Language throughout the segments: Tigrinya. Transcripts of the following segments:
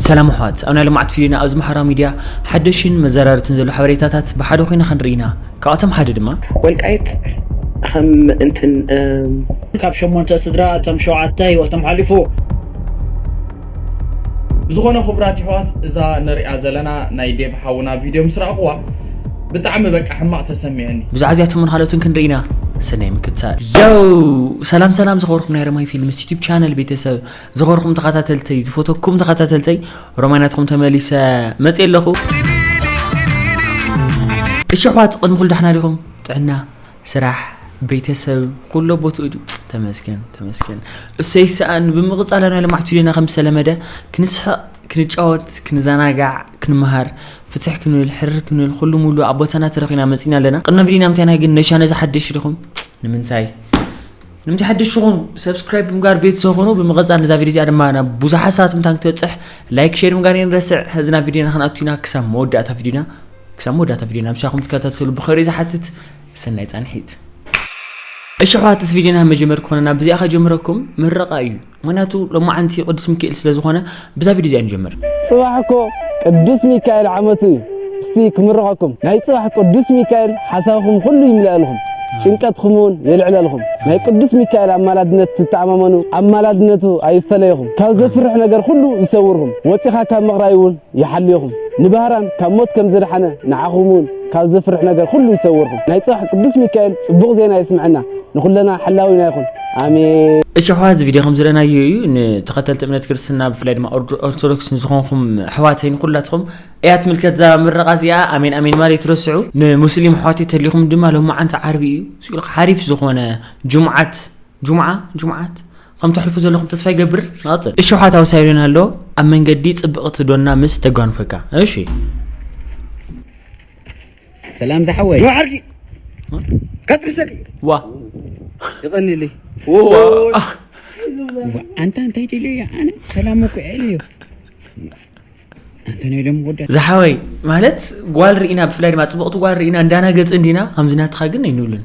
ሰላም ኣሕዋት ኣብ ናይ ልምዓት ቪድዮና ኣብዚ ማሕበራዊ ሚድያ ሓደሽን መዘራርትን ዘሎ ሓበሬታታት ብሓደ ኮይና ክንርኢ ኢና ካብኣቶም ሓደ ድማ ወልቃይት ከም እንትን ካብ ሸሞንተ ስድራ እቶም ሸውዓተ ህይወቶም ሓሊፉ። ብዝኾነ ኩቡራት የሕዋት እዛ ንሪኣ ዘለና ናይ ዴቭ ሓውና ቪድዮ ምስ ረኣኽዋ ብጣዕሚ በቃ ሕማቕ ተሰሚዕኒ። ብዛዕባ እዚኣቶምን ካልኦትን ክንርኢ ኢና ሰናይ ምክትታል። ዮው ሰላም ሰላም ዝኸበርኩም ናይ ረማይ ፊልምስ ዩቱብ ቻነል ቤተሰብ ዝኸርኹም ተኸታተልተይ ዝፈተኩም ተኸታተልተይ ሮማናትኩም ተመሊሰ መፅ ኣለኹ እሺ ኣሕዋት ቅድሚ ኩሉ ዳሕና ዲኹም ጥዕና ስራሕ ቤተሰብ ኩሎ ቦትኡ ድዩ ተመስገን ተመስገን እሰይ ሰኣን ብምቕፃል ናይ ልማዕቱ ዜና ከም ዝተለመደ ክንስሕቕ ክንጫወት ክንዘናጋዕ ክንመሃር ፍትሕ ክንብል ሕርር ክንብል ኩሉ ሙሉ ኣብ ቦታና ተረኺና መፂና ኣለና ቅድሚ ቪዲና ምንታይና ግን ነሻነ ዝሓደሽ ዲኹም ንምንታይ ንምቲ ሓድሽ ትኹኑ ሰብስክራይብ ብምጋር ቤተሰብ ኹኑ ብምቐፃል ነዛ ቪድዮ እዚኣ ድማ ናብ ብዙሓት ሰባት ምንታ ክትበፅሕ ላይክ ሼር ምጋር የንረስዕ ህዝና ቪድዮና ክንኣቱና ክሳብ መወዳእታ ቪድዮና ክሳብ መወዳእታ ቪድዮና ምሳኹም ትከታተሉ ብኸሪ ዝሓትት ሰናይ ፃንሒት እሺ ኣሕዋት እዚ ቪድዮና መጀመር ክኾነና ብዚኣ ከጀምረኩም ምረቓ እዩ ምክንያቱ ሎማዓንቲ ቅዱስ ሚካኤል ስለ ዝኮነ ብዛ ቪድዮ እዚኣ ንጀምር። ፅባሕ እኮ ቅዱስ ሚካኤል ዓመቱ እዩ እስቲ ክምርቀኩም ናይ ፅባሕ ቅዱስ ሚካኤል ሓሳብኩም ኩሉ ይምለኣልኩም ጭንቀትኩም እውን የልዕለልኩም ናይ ቅዱስ ሚካኤል ኣማላድነት ትተኣማመኑ ኣማላድነቱ ኣይፈለይኹም ካብ ዘፍርሕ ነገር ኩሉ ይሰውርኩም ወፂኻ ካብ ምቕራይ እውን ይሓልይኹም ንባህራን ካብ ሞት ከም ዘድሓነ ንዓኹም እውን ካብ ዘፍርሕ ነገር ኩሉ ይሰውርኩም ናይ ፅባሕ ቅዱስ ሚካኤል ፅቡቕ ዜና የስምዐና ንኩለና ሓላዊና ይኹን ኣሜን። እሺ ኣሕዋት እዚ ቪድዮ ከም ዝረናዮ እዩ ንተኸተልቲ እምነት ክርስትና ብፍላይ ድማ ኦርቶዶክስ ንዝኾንኩም ኣሕዋተይ ንኩላትኹም እያ ትምልከት እዛ ምረቓ እዚኣ ኣሜን ኣሜን ማለ ትረስዑ ንሙስሊም ኣሕዋተይ ተሊኹም ድማ ሎማዓንቲ ዓርቢ እዩ ስኢሉ ሓሪፍ ዝኾነ ጅሙዓት ጅሙዓ ጅሙዓት ከም ተሕልፉ ዘለኹም ተስፋ ይገብር ንቐፅል እሺ ኣሕዋት ኣውሳይሉን ኣሎ ኣብ መንገዲ ፅብቕቲ ዶና ምስ ተጓንፈካ እሺ ሰላም ዝሓወይ ጆሓርኪ ከጥርሰኪ ዋ ይቀኒሊ ኣንታ እንታይ ትብሎ እያ ኣነ ሰላም እኮ ዕል እዩ ዝሓወይ ማለት ጓል ርኢና ብፍላይ ድማ ፅብቕቲ ጓል ርኢና እንዳናገፅ እንዲና ከምዚ ናትኻ ግን ኣይንብልን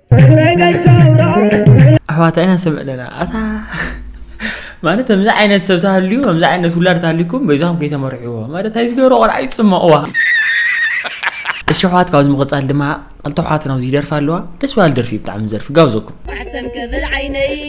ኣሕዋት ኢና ስምዕ ኣለና ኣታ ማለት ከምዚ ዓይነት ሰብ ተሃልዩ ከምዚ ዓይነት ውላድ ተሃልዩኩም በይዛኹም ከይተመርሕዎ ማለት ኣይዝገበሮ ቆልዓ ይፅመቕዋ እሺ ኣሕዋት ካብዚ ምቕፃል ድማ ክልተ ኣሕዋትና ኣብዚ ይደርፋ ኣለዋ ደስ በሃሊ ደርፊ እዩ ብጣዕሚ ዘርፊ ጋብዘኩም ኣሕሰን ክብል ዓይነይ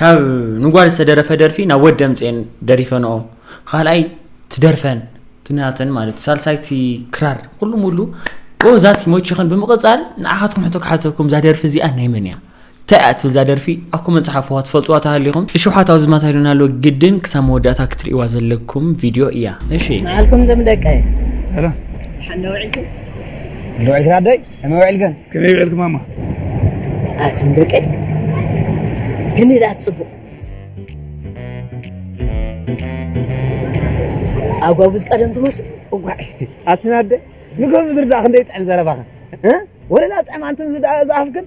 ካብ ንጓል ዝተደረፈ ደርፊ ናብ ወድ ደምጼን ደሪፈንኦ ካልኣይ ትደርፈን ትናተን ማለት ሳልሳይ ቲ ክራር ኩሉ ሙሉ ዛት ይመችኽን ብምቕጻል ንዓኻትኩም ሕቶ ክሓተኩም እዛ ደርፊ እዚኣ ናይ መን እያ እንታይ እያ ትብል እዛ ደርፊ ኣብ ኮመንት ጽሓፍዋ ትፈልጥዋ ተሃሊኹም እሺ ውሓት ኣብዚ ማታ ኢሉና ኣሎ ግድን ክሳብ መወዳእታ ክትርእይዋ ዘለኩም ቪድዮ እያ እሺ ንዓልኩም ዘም ደቀ ሰላም ንውዒልኩም ንውዒልክን ኣደይ ከመይ ውዒልክን? ከመይ ውዒልኪ ማማ? ኣቱም ደቀይ ክንደይ ደኣ ትጽቡቕ ኣጓቡዝ ቀደም ትመስሉ እዋይ ኣትን ኣደ ንጎ ምድሪ ደኣ ክንደይ ይጥዕም ዘረባኽን ወለላ ጥዕም ኣንትን ዝደኣ ዝኣፍክን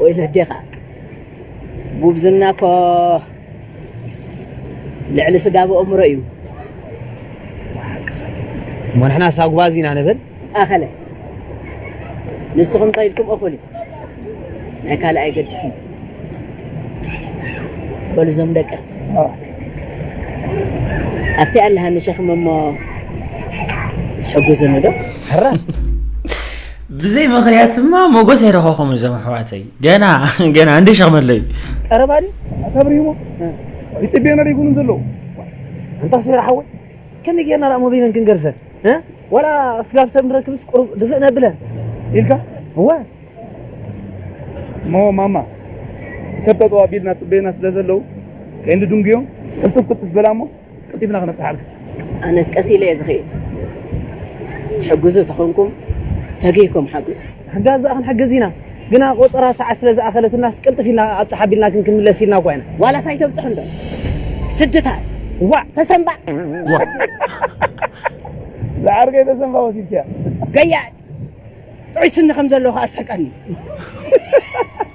ወይ ነዴኻ ጉብዝና እኮ ልዕሊ ስጋ ብእምሮ እዩ እሞ ንሕና ሳጉባዝ ኢና ንብል ኣኸለ ንስኹም እንታይ ኢልኩም እኹል እዩ ናይ ካልእ ኣይገድስን በሉ እዞም ደቀ ኣብቲ ኣለሃኒ ሸኽሚ እሞ ትሕጉዝኒ ዶ ሕራይ ብዘይ ምክንያት እማ ሞጎስ ኣይረኸኹም እዞም ኣሕዋተይ ገና ገና እንደ ሸክመለ እዩ ቀረባ ዲ ተብሪህሞ ይፅቤና ደይኮኑ ዘለዉ እንታ ሴራ ሓወይ ከመይ ጌርና ዳኣ ሞቢለን ክንገርዘን ዋላ ስጋብ ሰብ ንረክብስ ቁሩብ ድፍእ ነብለን ኢልካ እወ እሞ ማማ ሰብ ጠጠው ኣቢልና ፅበዩና ስለ ዘለዉ ከይንድንጉዮም ሕልፍፍ ክትበላ እሞ ቀልጢፍና ክነብጽሕ ኣብዚ። ኣነስ ቀስ ኢለ እየ ዝኽይድ ትሕግዙ ተኾንኩም ተጊህኩም ሓግዙ። ምሕጋዝ ድኣ ክንሕግዝ ኢና ግና ቆጸራ ሰዓት ስለ ዝኣኸለትናስ ቅልጥፍ ኢልና ኣብጽሕ ኣቢልና ግን ክንምለስ ኢልና እኳ ኢና። ዋላስ ኣይተብጽሑ እንዶ ስድታት ዋእ ተሰንባእ። ዝዓርከይ ተሰንባእ ወሲድካያ። ገያጽ ጥዑይ ስኒ ከም ዘለዎ ከኣ ኣስሕቀኒ።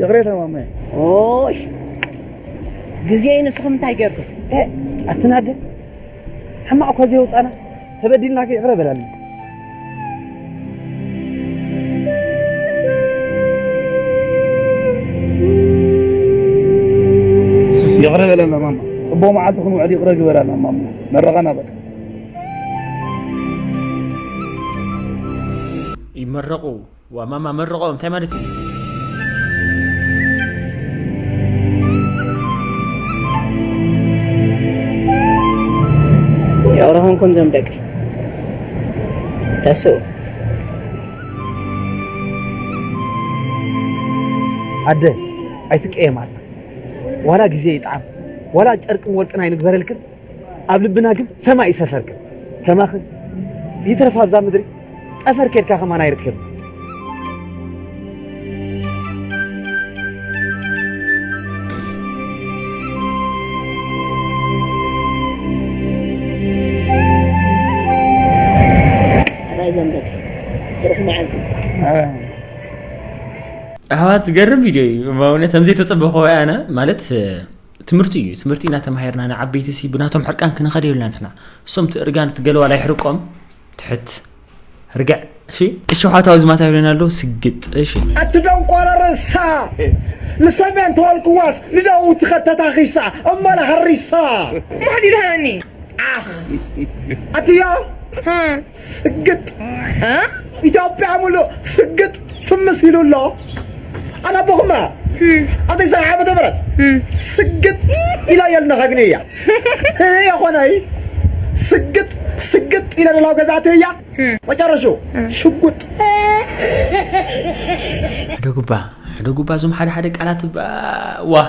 ይቕሬታ ማማየ ኦይ ግዜ ንስኹም እንታይ ጌርኩም ኣትናደ ሕማቕ እኳ ዘየውፃና ተበዲልናከ ይቕረ በላልና ይቕረ በለና ማማ ፅቡቕ መዓልቲ ክንውዕል ይቕረ ግበራና ማማ መረቓና በቃ ይመረቑ እዋ ማማ መርቐኦም እንታይ ማለት እዩ የቕረኹንኩም ዘም ደቂ ተስኡ ኣደ ኣይትቀየም ኣላ ዋላ ግዜ ይጥዓም ዋላ ጨርቅን ወርቅን ኣይንግበረልክን ኣብ ልብና ግን ሰማይ እዩ ሰፈርካ ከማኺ ይትረፍ ኣብዛ ምድሪ ጠፈር ኬድካ ከማን ኣይርከብ ኣሕዋት ዝገርም ቪድዮ እዩ በእውነት ከምዘይተፀበኹ ኣነ ማለት ትምህርቲ እዩ ትምህርቲ ኢና ተማሂርና ንዓበይቲ ሲ ብናቶም ሕርቃን ክንኸድ የብልና ንሕና እሶም እቲ እርጋን እቲ ገለዋላ ይሕርቆም ትሕት ርግዕ እሺ እሺ ሓታዊ ዝማታ ይብለና ኣሎ ስግጥ እሺ ኣቲ ደንቆሮ ርእሳ ንሰሜን ተወልክዋስ ንደቡብ ትኸተታኺሳ እመለ ሃሪሳ ማሕዲ ድሃኒ ዓኽ ኣትዮ ስግጥ ኢትዮጵያ ሙሉእ ስግጥ ፍምስ ኢሉ ኣሎ ኣነቦኹም ኣብ ተስዓይ ዓመተ ምህረት ስግጥ ኢለ እየ ልነኸግኒ እያ የኾነይ ስግጥ ስግጥ ኢለ ደላው ገዛእቲ እያ መጨረሹ ሽጉጥ ሕደጉባ ሕደጉባ እዞም ሓደ ሓደ ቃላት እባ ዋእ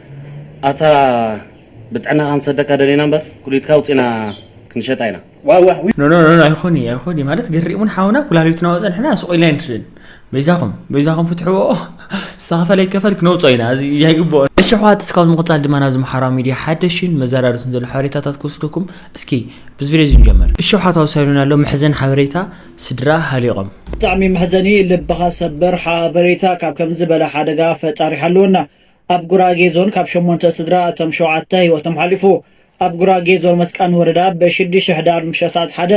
ኣታ ብጥዕናኻ ንሰደካ ደሊና እምበር ኩሊትካ ኣውጺና ክንሸጣ ኢና ዋዋእ ዊይ። ኖኖኖኖ ኣይኮን እዩ ኣይኮን እዩ ማለት ገሪሙን ሓውና ኩላሊትና ወፀ ንሕና ስቅ ኢልና ኣይንድርን በይዛኹም በይዛኹም ፍትሕዎ ዝተኸፈለ ይከፈል ክነውፆ ኢና እዚ ኣይግብኦን እሺ ኣሕዋት እስካብ ምቕፃል ድማ ናብዚ ማሓራዊ ሚድያ ሓደሽን መዘራረብትን ዘሎ ሓበሬታታት ክወስደኩም እስኪ ብዚ ቪድዮ እዚ ንጀምር እሺ ኣሕዋት ኣውሳዩና ኣሎ መሕዘን ሓበሬታ ስድራ ሃሊቖም። ብጣዕሚ መሕዘኒ ልብኻ ሰበር ሓበሬታ ካብ ከምዚ ዝበለ ሓደጋ ፈጣሪ ይሓልወና። ኣብ ጉራጌ ዞን ካብ ሸሞንተ ስድራ እቶም ሸውዓተ ህይወቶም ሓሊፉ። ኣብ ጉራጌ ዞን መስቃን ወረዳ ብ ሽዱሽተ ሕዳር ምሸት ሰዓት ሓደ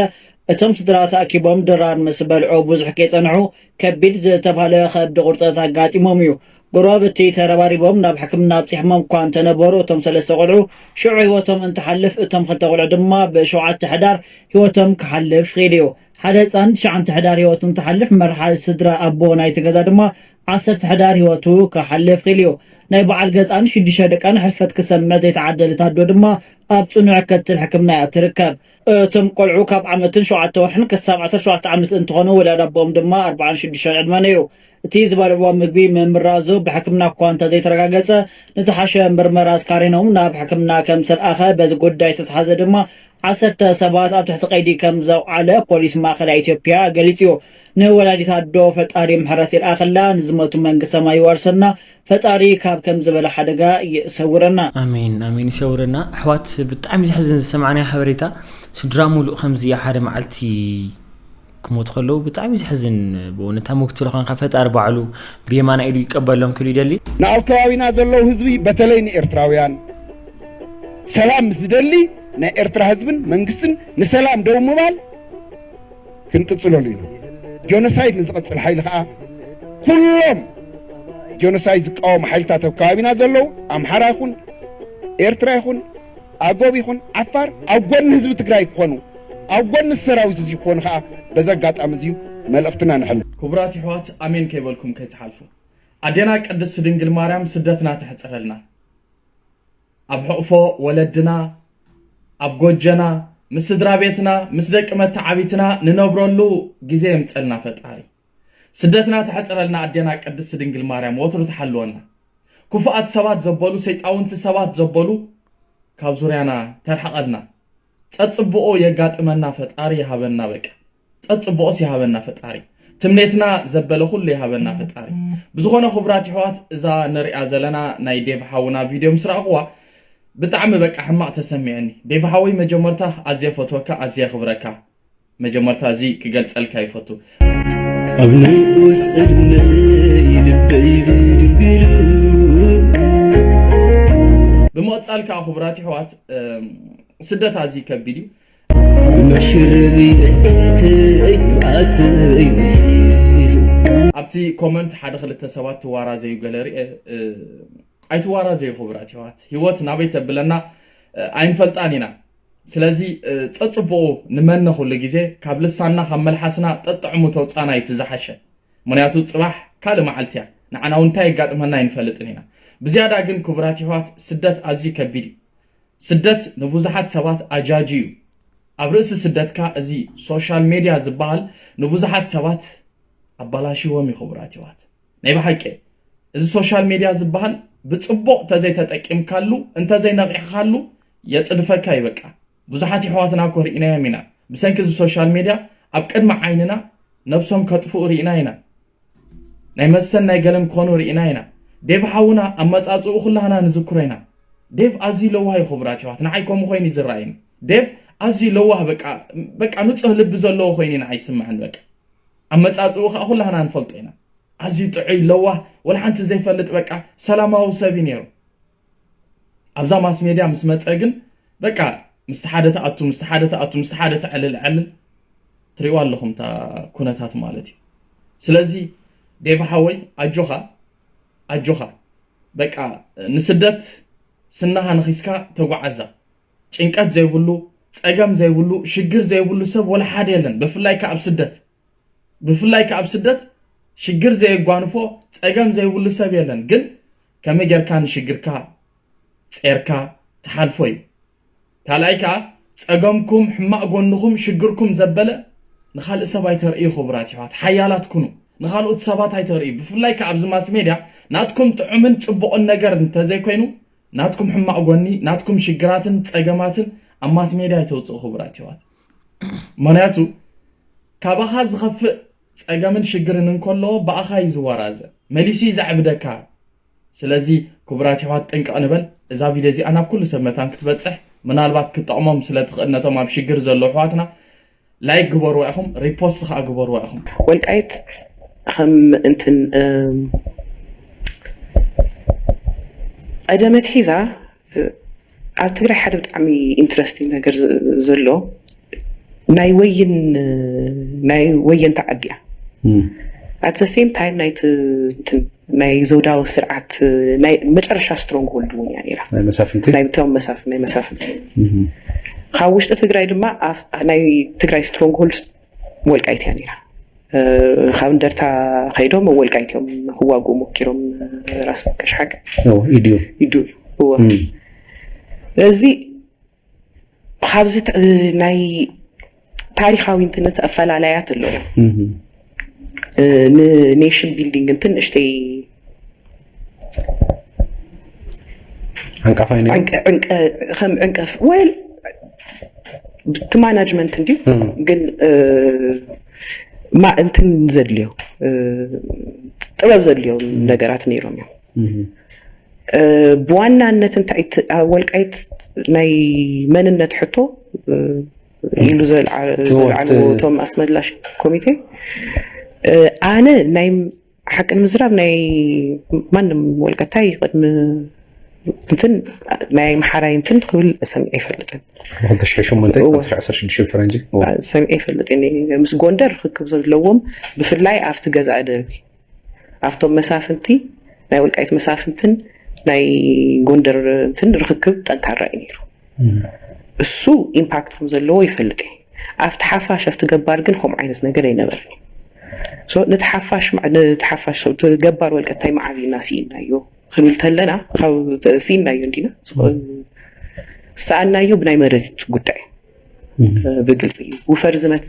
እቶም ስድራ ተኣኪቦም ድራር ምስ በልዑ ብዙሕ ከይጸንሑ ከቢድ ዝተብሃለ ከብዲ ቁርጸት ኣጋጢሞም እዩ። ጎረባብቲ ተረባሪቦም ናብ ሕክምና ኣብጺሖሞም እኳ እንተነበሩ እቶም ሰለስተ ቆልዑ ሽዑ ህይወቶም እንትሓልፍ እቶም ክልተ ቆልዑ ድማ ብ ሸውዓተ ሕዳር ህይወቶም ክሓልፍ ኺኢሉ እዩ። ሓደ ህጻን ትሽዓንተ ሕዳር ህይወቱ እንትሓልፍ መርሓ ስድራ ኣቦ ናይቲ ገዛ ድማ ዓሰርተ ሕዳር ህይወቱ ክሓልፍ ክኢሉ እዩ። ናይ በዓል ገዝኣን ሽዱሽተ ደቃን ሕልፈት ክትሰምዕ ዘይተዓደለት ኣዶ ድማ ኣብ ጽኑዕ ክትል ሕክምና እያ እትርከብ። እቶም ቆልዑ ካብ ዓመትን ሸውዓተ ወርሕን ክሳብ ዓሰርተ ሸውዓተ ዓመት እንትኾኑ ወላድ ኣቦኦም ድማ ኣርብዓን ሽዱሽተን ዕድመን እዩ። እቲ ዝበልዕዎ ምግቢ ምምራዙ ብሕክምና እኳ እንተዘይተረጋገጸ ንዝሓሸ ምርመራ ኣስካሪኖም ናብ ሕክምና ከም ዝተልኣኸ በዚ ጉዳይ ዝተትሓዘ ድማ ዓሰርተ ሰባት ኣብ ትሕቲ ቀይዲ ከም ዘውዓለ ፖሊስ ማእኸላይ ኢትዮጵያ ገሊጹ እዩ። ንወላዲት ኣዶ ፈጣሪ ምሕረት ይልኣኸላ፣ ንዝመቱ መንግስት ሰማይ ይዋርሰና፣ ፈጣሪ ካብ ከምዚ ዝበለ ሓደጋ ይሰውረና። ኣሜን ኣሜን ይሰውረና ኣሕዋት ብጣዕሚ ዘሕዝን ዝሰማዕናዮ ሓበሬታ ስድራ ሙሉእ ከምዚ ኣብ ሓደ መዓልቲ። ክሞቱ ከለዉ ብጣዕሚ እዩ ዘሕዝን ብእውነት ተመክትሎ ኮንካ ፈጣሪ ባዕሉ ብየማናይ ኢዱ ይቀበሎም ክብል ይደሊ። ንኣብ ከባቢና ዘለዉ ህዝቢ በተለይ ንኤርትራውያን ሰላም ምስ ዝደሊ ናይ ኤርትራ ህዝብን መንግስትን ንሰላም ደው ምባል ክንቅጽለሉ ኢና ጆነሳይድ ንዝቐጽል ሓይሊ ከኣ ኩሎም ጆነሳይድ ዝቃወሙ ሓይልታት ኣብ ከባቢና ዘለዉ ኣምሓራ ይኹን ኤርትራ ይኹን ኣጎብ ይኹን ዓፋር ኣብ ጎኒ ህዝቢ ትግራይ ክኾኑ ኣብ ጎኒ እዚ ሰራዊት እዙይ ክኾኑ ኸኣ በዚ ኣጋጣሚ እዙይ መልእኽትና ነሕልፍ። ክቡራት ይሕዋት ኣሜን ከይበልኩም ከይትሓልፉ ኣዴና ቅድስት ድንግል ማርያም ስደትና ተሕጽረልና ኣብ ሕቕፎ ወለድና ኣብ ጎጀና ምስ ስድራቤትና ምስ ደቂ መታዓቢትና ንነብረሉ ግዜ የምጸልና ፈጣሪ። ስደትና ተሕጽረልና ኣዴና ቅድስቲ ድንግል ማርያም ወትሩ ትሓልወና ኩፉኣት ሰባት ዘበሉ ሰይጣውንቲ ሰባት ዘበሉ ካብ ዙርያና ተርሕቀልና ጸጽብቆ የጋጥመና ፈጣሪ ይሃበና በቃ ጸጽብቆስ ይሃበና ፈጣሪ ትምኔትና ዘበለ ኩሉ ይሃበና ፈጣሪ ብዝኾነ ክቡራት ይሕዋት እዛ ንሪኣ ዘለና ናይ ዴቭ ሓውና ቪድዮ ምስ ረኣኽዋ ብጣዕሚ በቃ ሕማቅ ተሰሚዕኒ ዴቭ ሓወይ መጀመርታ ኣዝየ ፈትወካ ኣዝየ የኽብረካ መጀመርታ እዚ ክገልጸልካ ይፈቱ ኣብ ንኡስ ዕድመይ ልበይ ብድንግሉ ብምቕጻል ከዓ ክቡራት ይሕዋት ስደት ኣዝዩ ከቢድ እዩ መሽረቢ ብዒተይ ብዓተይ ሒዙ ኣብቲ ኮመንት ሓደ ክልተ ሰባት ትዋራዘዩ ገለ ርኤ ኣይትዋራዘዩ ክቡራት ይሕዋት ህይወት ናበይ ተብለና ኣይንፈልጣን ኢና ስለዚ ጸጽቡቑ ንመነ ኩሉ ግዜ ካብ ልሳንና ካብ መልሓስና ጠጥዕሙ ተውጻና እዩ እቲ ዝሓሸ ምክንያቱ ጽባሕ ካልእ መዓልቲ እያ ንዓና እውን እንታይ የጋጥመና ኣይንፈልጥን ኢና ብዝያዳ ግን ክቡራት ይሕዋት ስደት ኣዝዩ ከቢድ እዩ ስደት ንብዙሓት ሰባት ኣጃጂ እዩ ኣብ ርእሲ ስደትካ እዚ ሶሻል ሜድያ ዝበሃል ንብዙሓት ሰባት ኣባላሽዎም እዩ ክቡራት ይሕዋት ናይ ብሓቂ እዚ ሶሻል ሜድያ ዝበሃል ብጽቡቕ እንተዘይተጠቂምካሉ እንተዘይነቒሕኻሉ የጽድፈካ እዩ በቃ ብዙሓት የሕዋትና እኮ ርኢናዮም ኢና ብሰንኪ እዚ ሶሻል ሜድያ ኣብ ቅድሚ ዓይንና ነብሶም ከጥፍኡ ርኢና ኢና ናይ መሰን ናይ ገለን ኮኑ ርኢና ኢና ዴቭ ሓውና ኣመጻጽኡ ኩላህና ንዝክሮ ኢና ዴቭ ኣዝዩ ለዋህ እዩ ክቡራት የሕዋት ንዓይ ከምኡ ኮይኑ እዩ ዝረኣይኒ ዴቭ ኣዝዩ ለዋህ በቃ በቃ ንጹህ ልቢ ዘለዎ ኮይኑ እዩ ንዓይ ይስምዐኒ በቃ ኣመጻጽእኡ ከኣ ኩላህና ንፈልጦ ኢና ኣዝዩ ጥዑይ ለዋህ ወላ ሓንቲ ዘይፈልጥ በቃ ሰላማዊ ሰብ እዩ ኔሩ ኣብዛ ማስ ሜድያ ምስ መጸ ግን በቃ ምስቲ ሓደ ትኣቱ ምስቲ ሓደ ትኣቱ ምስቲ ሓደ ተዕልል ዕልል ትሪእዋ ኣለኹም እታ ኩነታት ማለት እዩ ስለዚ ዴቭ ሓወይ ኣጆኻ ኣጆኻ በቃ ንስደት ስናሃ ንኺስካ ተጓዓዛ ጭንቀት ዘይብሉ ጸገም ዘይብሉ ሽግር ዘይብሉ ሰብ ወላ ሓደ የለን ብፍላይ ከኣ ኣብ ስደት ብፍላይ ከኣ ኣብ ስደት ሽግር ዘየጓንፎ ጸገም ዘይብሉ ሰብ የለን ግን ከመይ ጌርካ ንሽግርካ ጼርካ ትሓልፎ እዩ ካልኣይ ከኣ ጸገምኩም ሕማቅ ጎንኹም ሽግርኩም ዘበለ ንኻልእ ሰብ ኣይተርእዩ ክቡራት ይሕዋት ሓያላት ኩኑ ንኻልኦት ሰባት ኣይተርእዩ ብፍላይ ከኣ ኣብዚ ማስ ሜድያ ናትኩም ጥዑምን ጽቡቅን ነገር እንተዘይኮይኑ ናትኩም ሕማቅ ጎኒ ናትኩም ሽግራትን ጸገማትን ኣብ ማስሜድያ ኣይተውጽኡ ክቡራት የሕዋት ምክንያቱ ካባኻ ዝኸፍእ ጸገምን ሽግርን እንከሎ ብኣኻ እዩ ዝወራዘ መሊሱ እዩ ዘዕብደካ ስለዚ ክቡራት የሕዋት ጥንቅቕ ንበል እዛ ቪድዮ እዚኣ ናብ ኩሉ ሰብ መታን ክትበጽሕ ምናልባት ክጠቕሞም ስለ ትኽእል ነቶም ኣብ ሽግር ዘለዉ ኣሕዋትና ላይክ ግበርዋ ኢኹም ሪፖስት ከኣ ግበርዋ ኢኹም። ወልቃይት ኸም እንትን ቐደም ኣትሒዛ ኣብ ትግራይ ሓደ ብጣዕሚ ኢንትረስቲንግ ነገር ዘሎ ናይ ወይን ናይ ወየንቲ ዓዲ እያ ኣት ዘ ሴም ታይም ናይቲ እንትን ናይ ዘውዳዊ ስርዓት ናይ መጨረሻ ስትሮንግ ሆልድ እውን እያ ነይራ ናይ መሳፍንቲ ናይ ብቶም መሳፍ ናይ መሳፍንቲ ካብ ውሽጢ ትግራይ ድማ ኣብ- ናይ ትግራይ ስትሮንግ ሆልድ ወልቃይት እያ ነይራ እ፣ ካብ እንደርታ ከይዶም ኣብ ወልቃይት እዮም ክዋግኡ ሞኪሮም እ፣ ራስ ቀሽሓግ ኢድዮ ይዱ እዎ እዚ ካብዚ ናይ ታሪኻዊ እንትነት ኣፈላላያት ኣሎ ንኔሽን ቢልዲንግ እንትን ንእሽተይ ዓንቀፋይ ነይሩ ከም ዕንቀፍ ወል እቲ ማናጅመንት እንዲ ግን ማ እንትን ዘድልዮ ጥበብ ዘድልዮ ነገራት ነይሮም እዮም ብዋናነት እንታይ እቲ ኣብ ወልቃይት ናይ መንነት ሕቶ ኢሉ ዘልዓልዎ እቶም ኣስመላሽ ኮሚቴ ኣነ ናይ ሓቂ ንምዝራብ ናይ ማንም ወልቀታይ ቅድሚ እንትን ናይ ኣምሓራይ እንትን ክብል ሰሚዐ ኣይፈልጥን ፈረንጂ ሰሚዐ ይፈልጥ ምስ ጎንደር ርክክብ ዘለዎም ብፍላይ ኣብቲ ገዛእ ደርቢ ኣብቶም መሳፍንቲ ናይ ወልቃይት መሳፍንትን ናይ ጎንደር እንትን ርክክብ ጠንካራ እዩ ነይሩ። እሱ ኢምፓክት ከም ዘለዎ ይፈልጥ እየ። ኣብቲ ሓፋሽ ኣብቲ ገባር ግን ከምኡ ዓይነት ነገር ኣይነበረን እዩ። ነቲ ሓፋሽ ነቲ ሓፋሽ ገባር ወልቀ እንታይ መዓዚና ስኢናዮ ክንብል ተለና ካብ ስኢናዮ እንዲና ሰኣናዮ ብናይ መሬት ጉዳይ ብግልፂ እዩ ውፈር ዝመት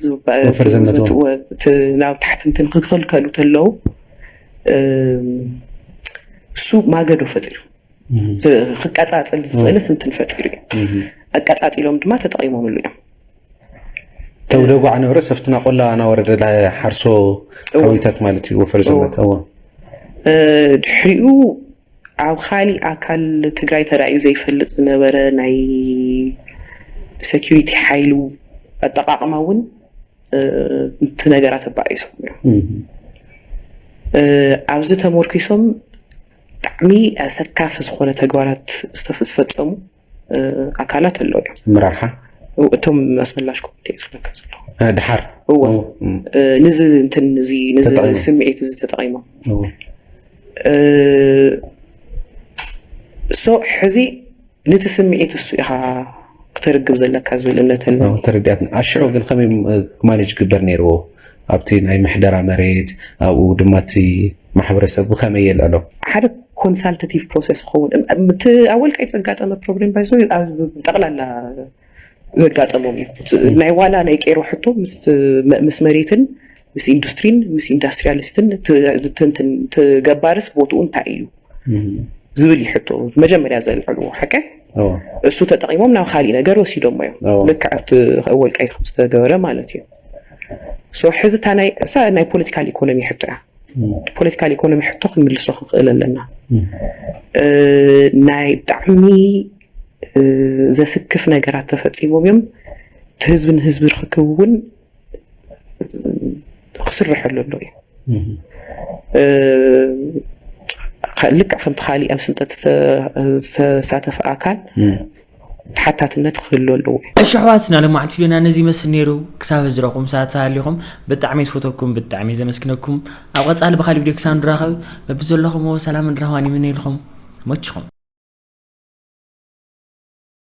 ናብ ታሕትምትን ክክልከሉ ተለው እሱ ማገዶ ፈጢሩ ክቀፃፅል ዝኽእል ስንትን ፈጢሩ እዩ ኣቀፃፂሎም ድማ ተጠቂሞምሉ እዮም ተውደጉ ዓነበረ ሰፍትና ቆላ ናወረደ ሓርሶ ሓዊታት ማለት እዩ ወፈር ዘመት ድሕሪኡ ኣብ ኻሊእ ኣካል ትግራይ ተራእዩ ዘይፈልጥ ዝነበረ ናይ ሰኪሪቲ ሓይሉ ኣጠቓቕማ እውን ንቲ ነገራት ኣባኢሶም እዮም። ኣብዚ ተሞርኪሶም ብጣዕሚ ኣሰካፊ ዝኾነ ተግባራት ዝተፈፀሙ ኣካላት ኣለዉ እዮም ምራርሓ እቶም ኣስመላሽ ኮሚቴ ዝፍለካ ዘሎ ድሓር እዎ ንዚ እንትን እዚ ንዚ ስምዒት እዚ ተጠቒሞም እሶ ሕዚ ነቲ ስምዒት እሱ ኢኻ ክተርግብ ዘለካ ዝብል እምነት ኣሎ ተረዲኣትና ኣሽዑ ግን ከመይ ማኔጅ ክግበር ነይርዎ ኣብቲ ናይ ምሕደራ መሬት ኣብኡ ድማ እቲ ማሕበረሰብ ብኸመይ የልዕሎ? ሓደ ኮንሳልተቲቭ ፕሮሰስ ይኸውን። እቲ ኣብ ወልቃይት ዘጋጠመ ፕሮብሌም ባይ ዘ ዌይ ኣብ ጠቕላላ ዘጋጠሞም እዩ። ናይ ዋላ ናይ ቄሮ ሕቶ ምስ መሬትን ምስ ኢንዱስትሪን ምስ ኢንዳስትሪያሊስትን ትገባርስ ቦትኡ እንታይ እዩ ዝብል እዩ ሕቶ መጀመርያ ዘልዕልዎ ሓቀ እሱ ተጠቂሞም ናብ ካሊእ ነገር ወሲዶሞ እዮም ልክዕ ኣብቲ ወልቃይት ከም ዝተገበረ ማለት እዩ ሶ ሕዚ እታ ናይ እሳ ናይ ፖለቲካል ኢኮኖሚ ሕቶ እያ ፖለቲካል ኢኮኖሚ ሕቶ ክንምልሶ ክንኽእል ኣለና ናይ ብጣዕሚ ዘስክፍ ነገራት ተፈፂሞም እዮም እቲ ህዝቢ ንህዝቢ ርክክብ እውን ክስርሐሉ ኣሎ እዩ ልክዕ ከምቲ ካሊእ ኣብ ስልጠት ዝተሳተፈ ኣካል ተሓታትነት ክህሉ ኣለዎ እዩ። እሺ ኣሕዋትና ሎማዕንቲ ቪድዮና ነዚ ይመስል ነይሩ ክሳብ ሕዚ ዝረኹም ሰባት ተሃሊኹም ብጣዕሚ ዝፈተኩም ብጣዕሚ ዘመስግነኩም ኣብ ቐፃሊ ብኻሊእ ቪድዮ ክሳብ ንራኸብ በብዘለኹምዎ ሰላምን ራህዋን ይምነየልኹም መችኹም